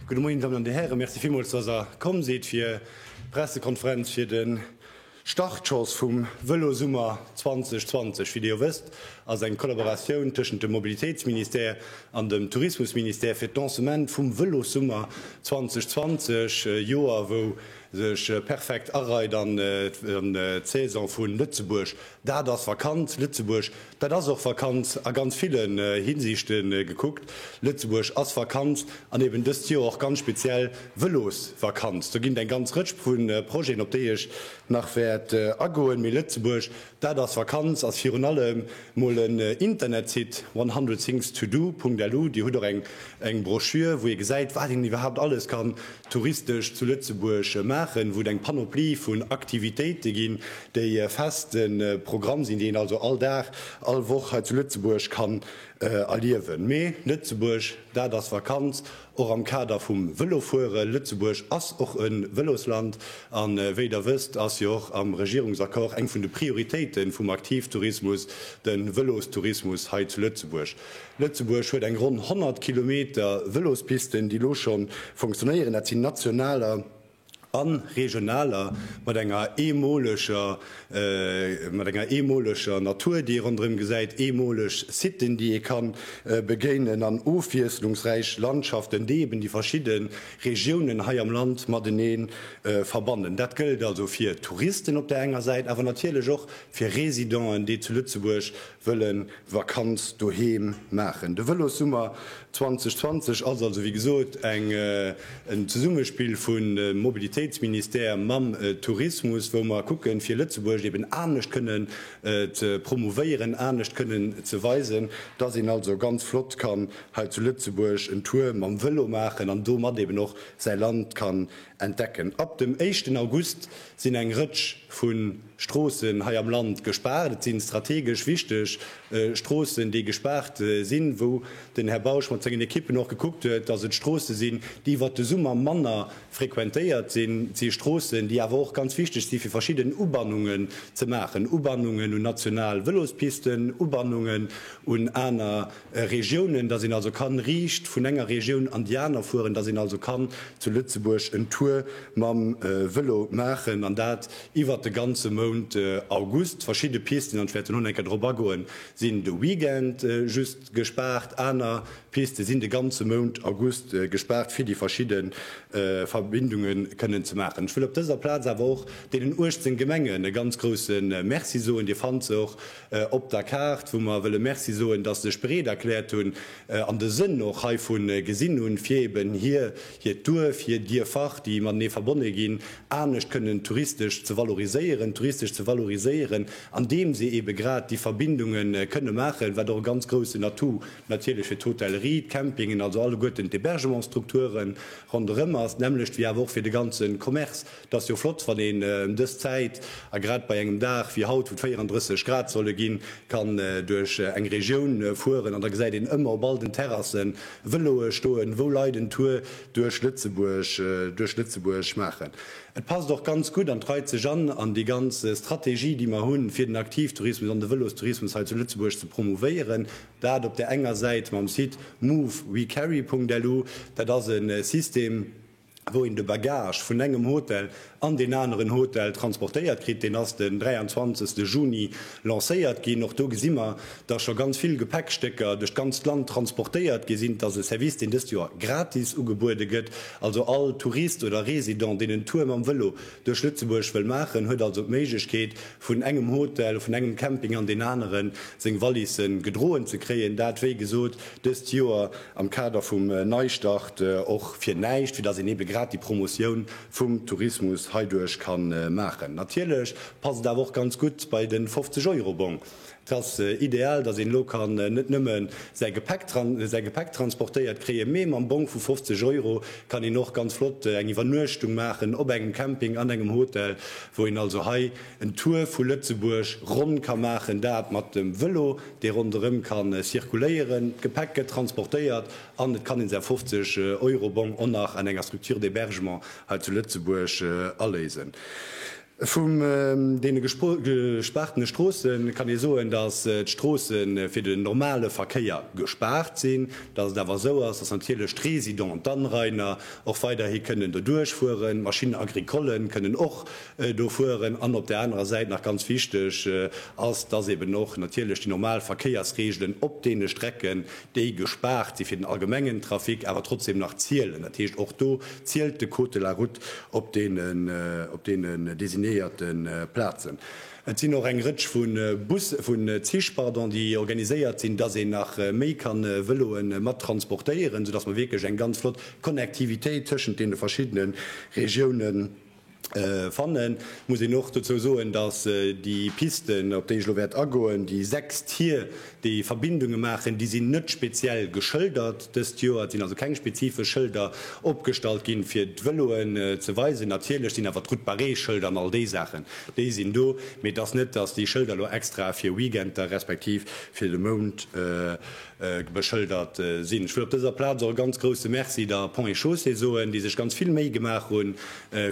Guten Morgen, Damen und Herren. Merci vielmals, dass ihr kommen seid für Pressekonferenz für den Startschoss vum Vëlosummer 2020. Wie Dir wësst, ass eng Kollaboratioun tëschent dem Mobilitéitsministère an dem Tourismusministère fir d'Lancement vum Vëlosummer 2020, Joer wou Sech perfekt areit an d'Saison vun Lëtzebuerg, dat ass Vakanz. Lëtzebuerg, dat ass och Vakanz a ganz villen Hinsichten gekuckt. Lëtzebuerg ass Vakanz an eben dëst Joer och ganz speziell Vëlosvakanz. Do ginn et eng ganz Rëtsch vun Projeten op déi ech nach wäert agoen, mee Lëtzebuerg, Dat ass Vakanz, ass virun allem mol en Internetsite, one hundred things to do Punkt LU. Dir hutt och eng Broschür, wou ee gesäit, wat een iwwerhaapt alles kann touristesch zu Lëtzebuerg maachen, wou et eng Panoplie vun Aktivitéite ginn, déi e feste Programm sinn, déi een also all Dag, all Woch hei zu Lëtzebuerg kann erliewen. Mee Lëtzebuerg, dat ass Vakanz, Och am Kader vum Vëlofuere, Lëtzebuerg ass och e Vëlosland a wéi Der wësst, ass jo och am Regierungsaccord eng vun de Prioritéite vum Aktivtourismus de Vëlostourismus hei zu Lëtzebuerg. Lëtzebuerg huet eng ronn 100 Kilometer Vëlospisten, déi elo scho funktionéieren. Dat sinn nationaler. a regionaler, mat enger eemoleger, mat enger eemoleger Natur, déi ee ronderëm gesäit, eemoleg Siten, déi ee ka begéinen, an ofwiesslungsräich Landschaften, déi eben déi verschidde Regiounen hei am Land matenee verbannen. Dat gëllt also fir Touristen op där enger Säit, awer natierlech och fir Residenten, déi zu Lëtzebuerg wëllen Vakanz doheem maachen. De Vëlossummer 2020 ass also wéi gesot en Zesummespill vu Mobilitéitsministère mam Tourismus, wou mer kucken, fir Lëtzebuerg eben anescht kënnen ze promouvéieren, anescht kënnen ze weisen, dass een also ganz flott kann hei zu Lëtzebuerg en Tour mam Vëlo maachen an domat eben och säi Land kann entdecken. Ab dem éischten August sinn eng Rëtsch vu. Stroossen hei am Land gespaart. Et si strategesch wichteg Stroossen, déi gespaart sinn, wou den Här Bausch mat sengen Ekippen och gekuckt huet, dass et Stroosse sinn, déi iwwert de Summer manner frequentéiert sinn. Et si Stroossen, déi awer och ganz wichteg si fir verschidden Ubannungen ze maachen, Ubannungen un national Vëlospisten, Ubannungen un aner Regiounen, dass een also kann riicht vun enger Regioun an déi aner fueren, dass een also kann zu Lëtzebuerg en Tour mam Vëlo maachen. An dat Iwwert de ganze Mount August verschidde Pisten, an ech wäert elo nach eng Kéier drop agoen, sinn de Weekend just gespaart. Aner Piste sinn de ganze Mount August gespaart, fir déi verschidde Verbindunge kënnen ze maachen. Ech wëll op dëser Plaz awer och deenen 18 Gemengen e ganz grousse Merci soen. Dir fannt se och op der Kaart, wou mer wëlle Merci soen, dass se sech bereet erkläert hunn an de Sënn och heivun gesinn hunn, fir eeben hir hiert Duerf, hir Dierfach, déi matenee verbonne ginn, anescht kënnen touristesch ze valoriséieren, touristesch ze valoriséieren, andeem se eebe grad déi Verbindunge kënne maachen, wat och e ganz groussen Atout natierlech fir d'Hotellerie, d'Campingen, also alleguerten d'Hébergementsstrukture ronderëm ass, nämmlecht wéi awer och fir de ganze Commerce. Et ass jo flott, wann een ëm dës Zäit, a grad bei engem Dag wéi haut, wou et 34 Grad solle ginn, kann duerch eng Regioun fueren, an da gesäit een ëmmer op all den Terrassen Vëloe stoen, wou Leit en Tour duerch Lëtzebuerg, duerch Lëtzebuerg maachen. Et passt och ganz gutt an et reit sech an an déi ganz Strategie, déi mer hunn, fir den Aktivtourismus an de Vëlostourismus hei zu Lëtzebuerg ze promouvéieren. Dat op där enger Säit mam Site movewecarry.lu. Dat ass e System, wou een de Bagage vun engem Hotel an deen aneren Hotel transportéiert kritt, deen ass den 23 Juni lancéiert ginn. Och do gesi mer, dass scho ganz vill Gepäckstécker duerch d'ganzt Land transportéiert gi sinn. Et ass e Service, deen dëst Joer gratis ugebuede gëtt. Also all Tourist oder Resident, deen en Tour mam Vëlo duerch Lëtzebuerg wëll maachen, huet also d'Méiglechkeet, vun engem Hotel, vun engem Camping an deen aneren seng Valise gedroen ze kréien. Dat, wéi gesot, dëst Joer am Kader vum Neistart och fir näischt, fir datt een ebe grad déi Promotioun vum Tourismus heiduerch ka maachen. Natierlech passt et awer och ganz gutt bei de 50 Euro Bong. Et ass ideal, datt een elo kann net nëmme säi Gepäck säi Gepäck transportéiert kréien, mee mam Bong vu 50 Euro kann een och ganz flott eng Iwwernuechtung maachen op engem Camping, an engem Hotel, wou een also hei en Tour vu Lëtzebuerg ronn ka maachen, dat mat dem Vëlo. dee ronderëm ka circuléieren, d'Gepäck gëtt transportéiert an et kann een säi 50 Euro Bong och nach an enger Structure d'hébergement hei zu Lëtzebuerg aléisen. Vum deene gespaartene Stroosse kann ee soen, datt d'Stroosse fir den normale Verkéier gespaart sinn, datt et awer esou ass, datt natierlech d'Résidents, d'Anrainer och weiderhi kënnen doduerch fueren, d'Machines agricollen kënnen och do fueren, an op där anerer Säit, nach ganz wichteg ass, dass eben och natierlech déi normal Verkéiersregelen op deene Strecken, déi gespaart si fir den allgemengen Trafic, awer trotzdem nach zielen. Dat heescht, och do zielt de Code de la Route op deenen designéierte Plazen. Et sinn och eng Rëtsch vu Bussen, vu Zich, pardon, déi organiséiert sinn, dass een nach méi kann Vëloe mat transportéieren, soudass mer wierklech eng ganz flott Connectivitéit tëschent deene verschiddene Regiounen, Fannen muss een och dozou soen, dass déi Pisten, op déi ech elo wäert agoen, déi sechs Tier, déi Verbindunge maachen, déi sinn net speziell geschëldert dëst Joer. Et sinn also keng spezifesch Schëlder opgestallt gi fir d'Vëloen ze weisen. Natierlech sinn awer d'Route barrée Schëlder an all déi Saachen, déi sinn do. Mee et ass net, dass déi Schëlder elo extra fir Weekender respektiv fir de Mount beschëldert sinn. Ech wëll op dëser Plaz och e ganz grouse Merci der Ponts et Chaussées soen, déi sech ganz vill Méi gemaach hunn,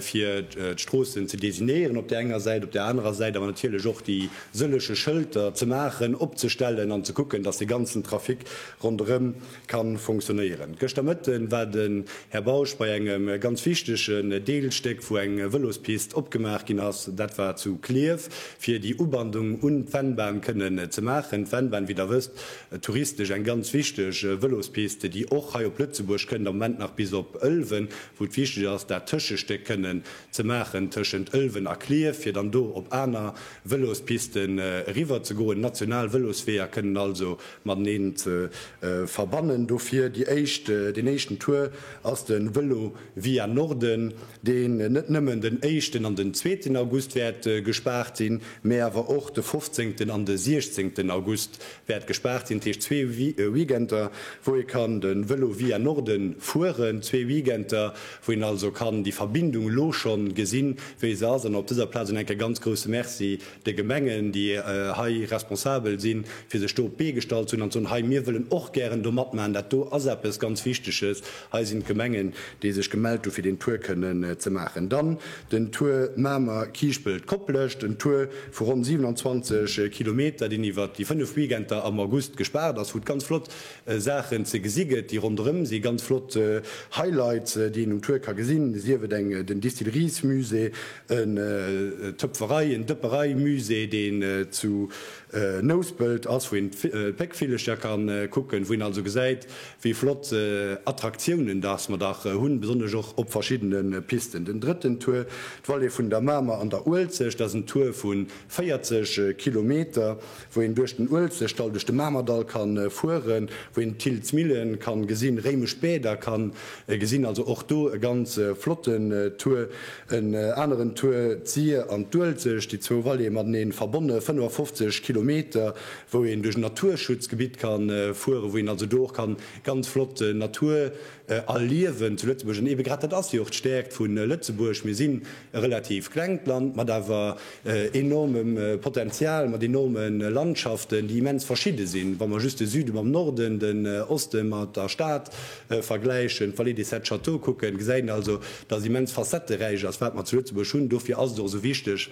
fir d'Stroossen ze designéieren op där enger Säit, op där anerer Säit awer natierlech och déi sëlleche Schëlter ze maachen, opzestellen an ze kucken, dass de ganzen Trafic ronderëm ka fonctionnéieren. Gëschter Mëtte war den Här Bausch bei engem ganz wichtegen Deelstéck, wou eng Vëlospist opgemaach ginn ass, dat war zu Klierf, fir déi Ubandung un d'Vennbahn kënnen ze maachen. D'Vennbahn, wéi Der wësst, touristesch eng ganz wichteg Vëlospiste, déi och hei op Lëtzebuerg kënnt, am Moment nach bis op Ëlwen, wou et wichteg ass, dat Tëschestéck kënnen ze maachen tëschent Ëlwen a Clierf, fir dann do op aner Vëlospisten eriwwer ze goen. National Vëlosweeër kënnen also mateneen ze verbannen. Dofir déi éischt, deen éischten Tour ass de Vëlo. Via Norden, deen net nëmmen den éischten an den zweeten August wäert gespaart sinn, mä awer och de fofzéngten an de siechzéngten August wäert gespaart sinn, dat heescht zwee Weekender, wou ee kann de Vélo via Norden fueren, zwee Weekender, wou een also kann déi Verbindung elo scho gesinn, wéi se ass. An op dëser Plaz un enk e ganz grouse Merci. de Gemengen, déi hei responsabel sinn, fir sech do op d'Bee gestallt ze hunn an ze soen, Hei, mir wëllen och gären do matmachen, dat do ass eppes ganz Wichteges, hei sinn d'Gemengen, déi sech gemellt hunn, fir deen Tour kënnen ze maachen. Dann den Tour Mamer, Kiischpelt, Koplescht, en Tour vu ronn 27 Kilometer, deen iwwert déi fënnef Weekender am August gespaart ass, wou et ganz flott Saachen ze gesi gëtt, déi ronderëm sinn, ganz flott Highlights, déi een um Tour ka gesinn, sief et eng den Distilleries-Musée, en Töpferei en Dëpperei-Musée, deen zu Nouspelt ass, wou een d'Péckvillecher ka kucken, wou een also gesäit, wéi flott Attraktiounen dass mer dach hunn, besonnesch och op verschiddene Pisten. Den drëtten Tour, d'Vallée vun der Mamer an der Uelzecht, dat ass en Tour vu 40 Kilometer, wou een duerch den Uelzechtdall, duerch de Mamerdall ka fueren, wou een d'Thiltz Millen ka gesinn, réimesch Bäder ka gesinn, also och do e ganz flotten Tour. En aneren Tour, d'Sir an d'Uelzecht, déi zwou Vallée mateneen verbonne, 55 Kilometer, wou een duerch en Naturschutzgebitt ka fueren, wou een also do och ka ganz flott Natur erliewen zu Lëtzebuerg. An eebe grad dat ass jo och d'Stäerkt vu Lëtzebuerg, Mir sinn e relativ klengt Land mat awer enormem Potenzial, mat enorme Landschaften, déi immens verschidde sinn, wa mer just de Süde mam Norden, den Oste mat der Stad vergläichen, d'Vallée des Sept Châteaux kucken, gesäit een also, dass et immens facetteräich ass, wat mer zu Lëtzebuerg hunn. Dofir ass et och esou wichteg,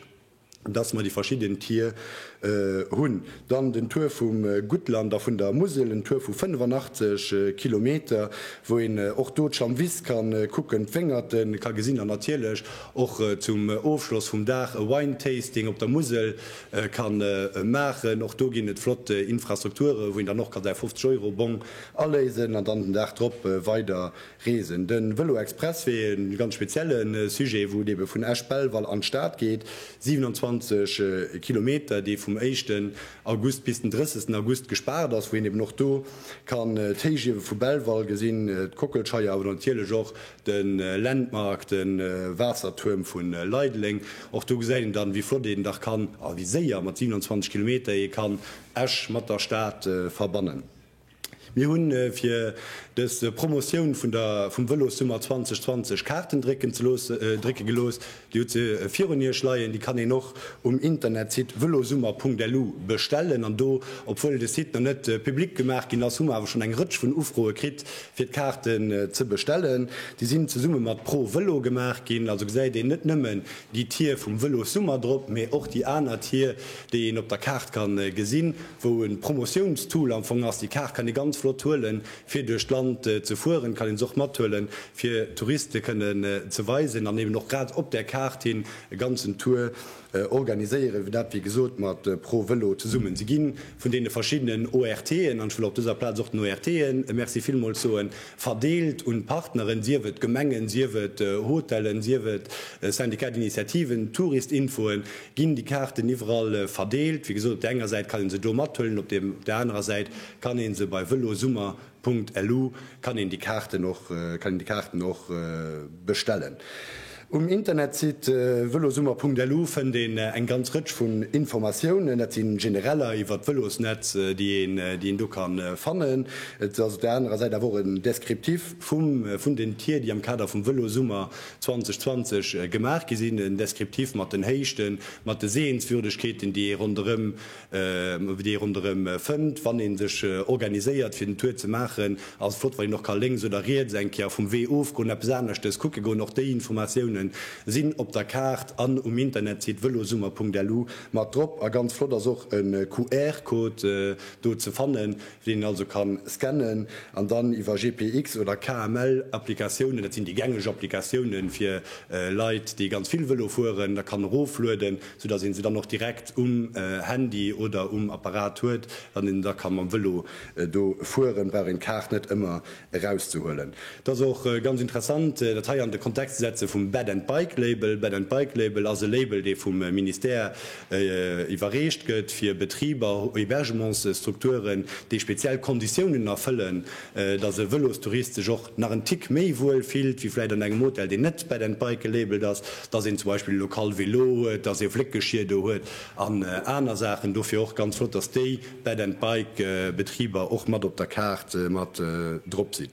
dass mer déi verschidden Tier hunn. Dann den Tour vum Guttland a vun der Musel, en Tour vu 85 Kilometer, wou een och do d'Schamwiss ka kucken, d'Wéngerte ka gesinn an natierlech och zum Ofschloss vum Dag e Wine-Tasting op der Musel ka maachen. Och do ginn et flott Infrastrukture wou een dann och ka säi 50 Euro Bong aléisen an dann den Dag drop weider Reesen. De Vëlo-Express wier ee ganz spezielle Sujet, wou et ebe vun Esch-Belval an d'Stad geet, 27 Kilometer, dee vum éischten August bis den 30 August gespaart ass, wou een eben och do kann d'Héichiewe vu Belval gesinn, d'Kockelscheier, awer natierlech och de Landmark, de Waassertuerm vu Leideleng. Och do gesäit een dann, wéi flott een dach kann a wéi séier mat 27 Kilometer ee kann Esch mat der Stad verbannen. Mir hu fir dës Promotioun vun der vum Vëlossummer 2020 Kaarten drécken ze looss drécke gelooss. Dir hutt se virun Iech leien. Déi kann een och um Internetsite velosummer.lu bestellen. An do, obwuel de Site nach net public gemaach ginn ass, hu mer awer schonn eng Rëtsch vun Ufroe kritt, fir d'Kaarten ze bestellen. Déi sinn zesumme mat Pro Velo gemaach ginn. Also gesäit een net nëmmen déi Tier vum Vëlossummer drop, mee och déi aner Tier, déi een op der Kaart kann gesinn. wou e Promotiounstool am Fong ass. Déi Kaart kann ee ganz flott huelen, fir duerch d'Land ze fueren, kann een se och mathuelen, fir Touriste kënnen ze weisen an eben och grad op där Kaart hin e ganzen Tour organiséieren, dat, wéi gesot, mat Pro Vëlo zesummen. Si gi vun deene verschiddenen ORTen, an ech wëll op dëser Plaz och den ORTe e Merci villmools soen, verdeelt un d'Partneren, sief et Gemengen, sief et Hotellen, sief et Syndicat d'Initiativen, Touristinfoen, Ginn déi Kaarten iwwerall verdeelt? Wéi gesot, op der enger Säit kann een se do mathuelen, op der anerer Säit kann een se bei velosummer.lu kann een déi Kaarten och kann een déi Kaarten och bestellen. Um Internetsite velosummer.lu fënnt een eng ganz Rëtsch vun Informatiounen. Dat si genereller iwwert d'Vëlosnetz, déi een déi een do ka fannen. Et ass op der anerer Säit awer och en Descriptif vum vun den Tier, déi am Kader vum Vëlosummer 2020 gemaach gi sinn, en Descriptif mat den Héichten, mat de Sehenswürdegkeeten, déi ee ronderëm, déi ee ronderëm fënnt, wann ee sech organiséiert fir den Tour ze maachen. Ass flott wann een och ka lénks oder riets eng Kéier vum Wee ofgoen, eppes aneschtes kucke goen. Och déi Informatiounen sinn op der Kaart an um Internetsite velosummer.lu mat drop. A ganz flott ass och e QR-Code do ze fannen, deen een also kann scannen an dann iwwer GPX oder KML Applikatiounen, dat sinn déi gängeg Applikatiounen fir Leit déi ganz vill Vëlo fueren, da kann eroflueden, sou datt een se dann och direkt um Handy oder um Apparat huet. Wann een da ka mam Vëlo do fueren, brauch een d'Kaart net ëmmer erauszehuelen. Et ass och ganz interessant, dat hei an de Kontext ze setze vum Bed and Bike Label. Bed and Bike Label ass e Label, dee vum Ministère iwwerreecht gëtt fir Betriber, Hébergementsstrukturen, déi speziell Konditiounen erfëllen, dass e Vëlostourist sech och nach en Tick méi wuel fillt, wéi vläicht an engem Hotel, deen net Bed and Bike gelabelt ass, dass een zum Beispill e lokal Vélo huet, dass ee Fléckgeschir do huet an aner Saachen. Dofir och ganz flott, dass déi. Bed and Bike Betriber och mat op der Kaart mat drop sinn.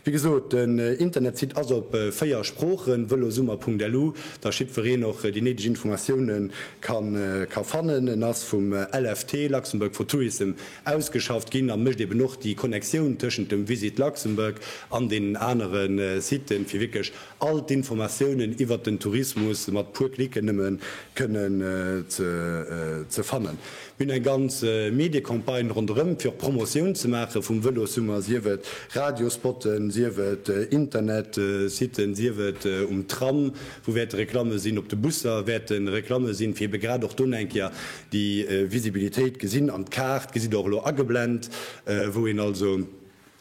Wéi gesot, den Internetsite ass op 4 Sproochen, velosummer.lu, datt jiddwereen och déi néideg Informatioune ka fannen. En ass vum LFT, Luxembourg for Tourism, ausgeschafft ginn a mécht eben och déi Connectioun tëschent dem Visit Luxembourg an deenen anere Siten, fir wierklech all d'Informatiounen iwwert den Tourismus mat puer Klicken nëmme kënnen ze fannen. hunn eng ganz Mediecampagne ronderëm, fir och Promotioun ze maache vum Vëlossummer, sief et Radiospotten, sief et Internetsitten, sief et um Tram, wou wäerte Reklamme sinn, op de Busser wäerte Reklamme sinn, fir ebe grad och do eng Kéier déi Visibilitéit gesinn. An d'Kaart gesitt Der och elo ageblent, wou een also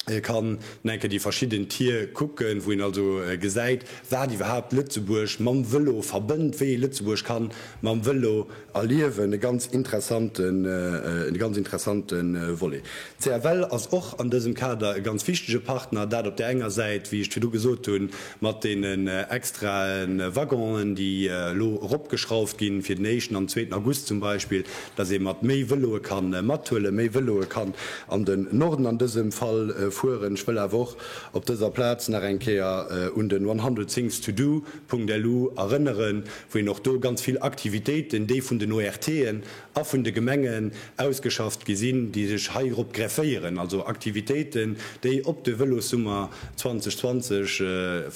Ee kann no enke déi verschidden Tier kucken, wou een also gesäit, wat iwwerhaapt Lëtzebuerg mam Vëlo verbënnt, wéi ee Lëtzebuerg ka mam Vëlo erliewen. E ganz interessante, e ganz interessante Volet. D'CFL ass och an dësem Kader e ganz wichtege Partner, dat op där enger Säit, wéi ech et virdu gesot hunn, Mat deenen extrae Waggonen, déi elo eropgeschrauft ginn, fir den éischten an den zweeten August zum Beispill, dass ee mat méi Vëloe ka mathuelen, méi Vëloe kann an den Norden an dësem Fall fueren. Ech wëll awer och op dëser Plaz nach eng Kéier un den one hundred things to do. LU erënneren, wou een och do ganz vill Aktivitéiten, déi vun den ORTen, a vun de Gemengen ausgeschafft gi sinn, déi sech heirop grefféieren, also Aktivitéiten, déi op de Vëlossummer 2020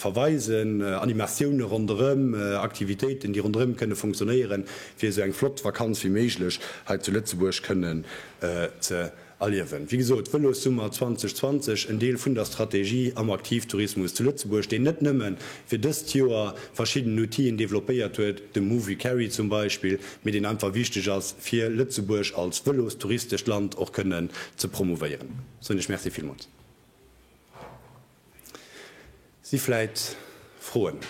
verweisen, Animatioune ronderëm, Aktivitéiten, déi ronderëm kënne funktionéieren, fir esou eng flott Vakanz wéi méiglech hei zu Lëtzebuerg kënnen ze. Erliewen. Wéi gesot, Vëlossummer 2020, en Deel vun der Strategie am Aktivtourismus zu Lëtzebuerg, deen net nëmme fir dëst Joer verschidden Outien developpéiert huet, de Movicarry zum Beispill, mee deen einfach wichteg ass, fir Lëtzebuerg als vëlostouristescht Land och kënnen ze promouvéieren. Soen ech Merci villmools. Si vläit Froen?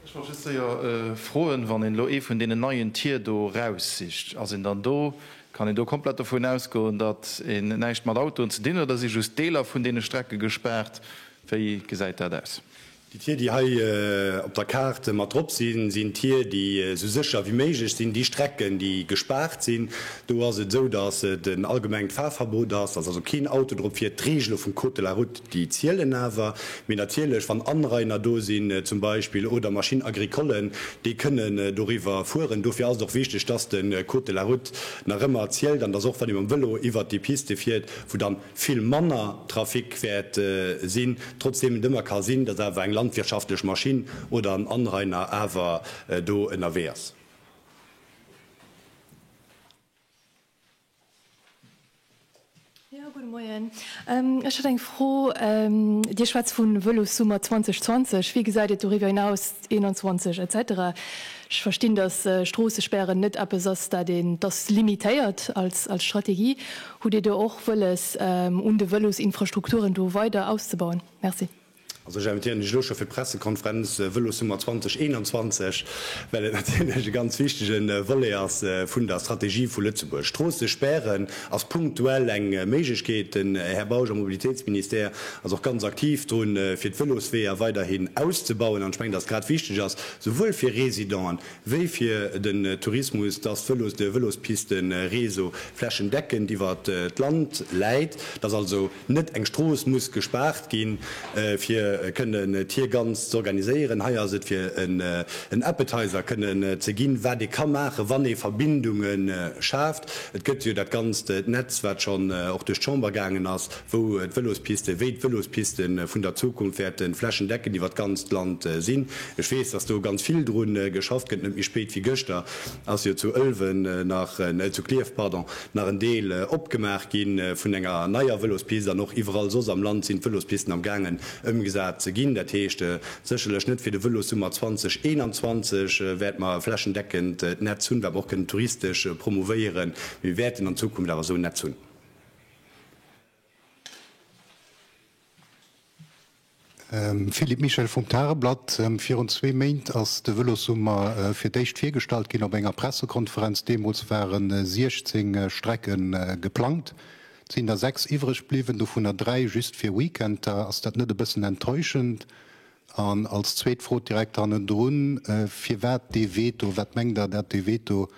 Ech wollt just séier froen, wann een elo ee vun deenen neien Tier do raussicht, ass een dann do, kann een do komplett dovun ausgoen, datt een näischt mat Autoen ze dinn huet, oder si just Deeler vun deene Strecke gespaart? Wéi gesäit dat aus? Déi Tier, déi hei op der Kaart mat drop sinn, sinn Tier, déi esou sécher wéi méiglech sinn. Déi Strecken, déi gespaart sinn, do ass et esou, dass et en allgemengt Fahrverbot ass, dass also keen Auto drop fiert. D'Regele vum Code de la Route, déi zielen awer. Mee natierlech, wann Anrainer do sinn zum Beispill oder Machines agricollen, déi kënnen doriwwer fueren. Dofir ass et och wichteg, dass de Code de la Route nach ëmmer zielt an dass och, wann ee mam Vélo iwwert déi Piste fiert, wou dann, vill manner Trafic wäert sinn, trotzdem et ëmmer ka sinn, datt awer eng landwirtschaftlech Maschinn oder en Anrainer awer do ënnerwee ass. Jo, gudde Moien. Ech hätt eng Fro. Dir schwätzt vu Vëlossummer 2020. Wéi gesäit et doriwwer hinaus, 21 et cetera? Ech verstinn, datt Stroossespären net eppes ass, dat een, datt limitéiert als Strategie. Hutt Dir do och wëlles, un de Vëlosinfrastrukturen do weider auszebauen? Merci. Also ech invitéieren Iech elo scho fir d'Pressekonferenz Vëlossummer 2021, well et natierlech e ganz wichtege Volet ass vun der Strategie vu Lëtzebuerg. Stroosse spären ass punktuell eng Méiglechkeet. Den Här Bausch am Mobilitéitsministère ass och ganz aktiv drun, fir d'Vëlosweeër weiderhin auszebauen. An ech mengen, dass grad wichteg ass, souwuel fir Residenten wéi fir den Tourismus, dass Vëlos, de Vëlospisten-Réseau flächendeckend iwwer d'Land läit, dass also net eng Strooss muss gespaart ginn, fir kënnen d'Hir ganz z'organiséieren. Hei ass et fir en Appetizer kënnen ze ginn, wat ee ka maachen, wann ee Verbindunge schaaft. Et gëtt jo dat ganzt Netz, wat schonn och duerch d'Chamber gaangen ass, wou d'Vëlospisten, wéi d'Vëlospisten vun der Zukunft wäerte flächendeckend iwwer d'ganzt Land sinn. Ech weess, dass do ganz vill dru geschafft gëtt. Net méi spéit wéi gëschter ass jo zu Ëlwen nach, zu Klierf, pardon, nach en Deel opgemaach gi vun enger neier Vëlospist an och iwwerall soss am Land sinn d'Vëlospisten am gaangen ëmgesat ze ginn. Dat heescht, sécherlech net fir de Vëlossummer 2021 wäerte mer e flächendeckend Netz hunn, wat mer och kënnen touristesch promouvéieren, mee mir wäerten an Zukunft awer esou en Netz hunn. Philippe Michel vum Tageblatt, Virun zwee Méint ass de Vëlossummer fir d'éischt virgestallt ginn op enger Pressekonferenz. Deemools ware 16 Strecke geplangt. Et sinn der sechs iwwreg bliwwen, dovunner dräi just fir Weekender. Ass dat net e bëssen enttäuschend, An als zweet Fro direkt hannendrun, Firwat dee Veto? Wat mengt Der, dat dee Veto,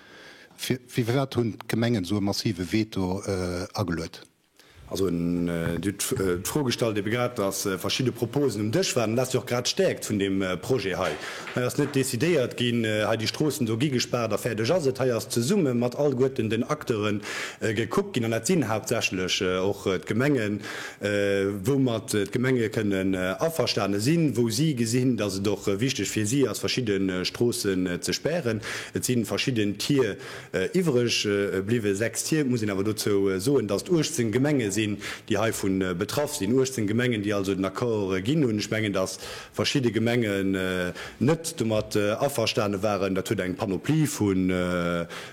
firwat hunn d'Gemengen esou e massive Veto ageluet? Also Dir hutt d'Fro gestallt ebe grad, datt verschidde Proposen um Dësch waren. Dat ass jo och grad d'Stäerkt vun deem Projet hei. Hei ass net decidéiert ginn, hei déi Stroossen do gi gespaart a fäerdeg ass et. Hei ass zesumme mat allguerten den Acteure gekuckt ginn, an dat sinn haaptsächlech och d'Gemengen, woumat d'Gemenge kënnen averstane sinn, wou si gesinn, datt et och wichteg fir si ass, verschidde Stroossen ze spären. Et si verschidden Tier iwwereg bliwwen, sechs Tier. Et muss een awer dozou soen, datt et 18 Gemenge sinn, déi heivu betraff sinn, 18 Gemengen, déi also den Accord ginn hunn. Ech mengen, datt verschidde Gemengen net domat averstane waren. Dat huet eng Panoplie vu.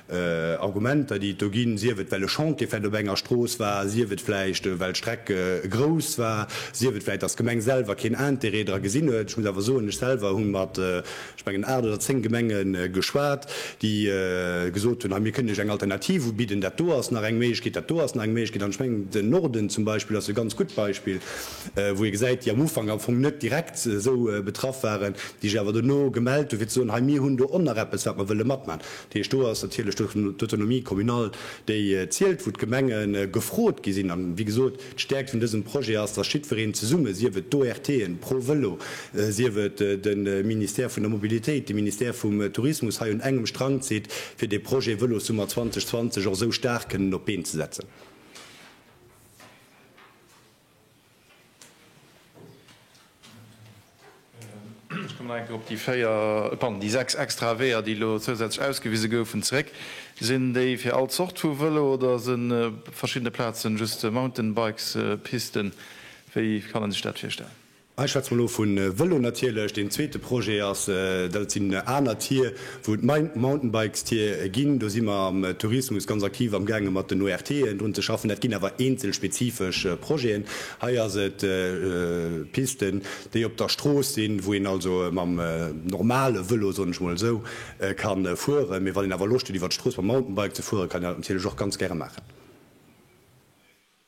Argumenter, déi et do ginn, sief et well e Chantier vläicht op enger Strooss war, sief et vläicht well d'Streck grouss war, sief et vläicht, datt d'Gemeng selwer keen Intérêt dra gesinn huet. Ech muss awer soen, ech selwer hu mat, ech mengen, aacht oder zéng Gemenge geschwat, déi gesot hunn, hei mir kënnen Iech eng Alternativ ubidden, dat do ass nach eng Méiglechkeet, dat do ass nach eng Méiglechkeet. An ech mengen, den Norden zum Beispill ass e ganz gutt Beispill, wou ee gesäit, déi am Ufank am Fong net direkt esou betraff waren, déi sech awer dono gemellt hu fir ze soen, hei mir hunn do och nach eppes wat mer wëlle matman. Dat heescht, do ass natierlech d'Autonomie communale, déi zielt, wou d'Gemenge gefrot gi sinn. A wéi gesot, d'Stäerkt vun dësem Projet ass, dass jiddwereen zesumme, sief et d'ORTen, ProVelo, sief et de Ministère vun der Mobilitéit, de Ministère vum Tourismus, hei un engem Strang zitt, fir dee Projet Vëlossummer 2020 och esou staark kënnen op d'Been ze setzen. Ech kommen nach eng Kéier op déi véier, pardon, déi sechs extrae Weeër, déi elo zousätzlech ausgewise goufen, zeréck. Sinn déi fir all Zort vu Vëlo oder si verschiddene Plazen just Mountainbikespisten? Wéi kann ee sech dat virstellen? Ech schwätze mol lo vu Vëlo natierlech. Deen zweete Projet ass, dat sinn aner Tier, wou et Mountainbikestier ginn. Do si mer am Tourismus ganz aktiv amgaange mat den ORTen drun ze schaffen. Dat ginn awer eenzel spezifesch Projeten. Hei ass et Pisten, déi op der Strooss sinn, wou een also mam normale Vëlo, soen ech mol esou, ka fueren. Mee wann een awer Loscht huet iwwer d'Strooss mam Mountainbike ze fueren, kann een dat natierlech och ganz gäre maachen.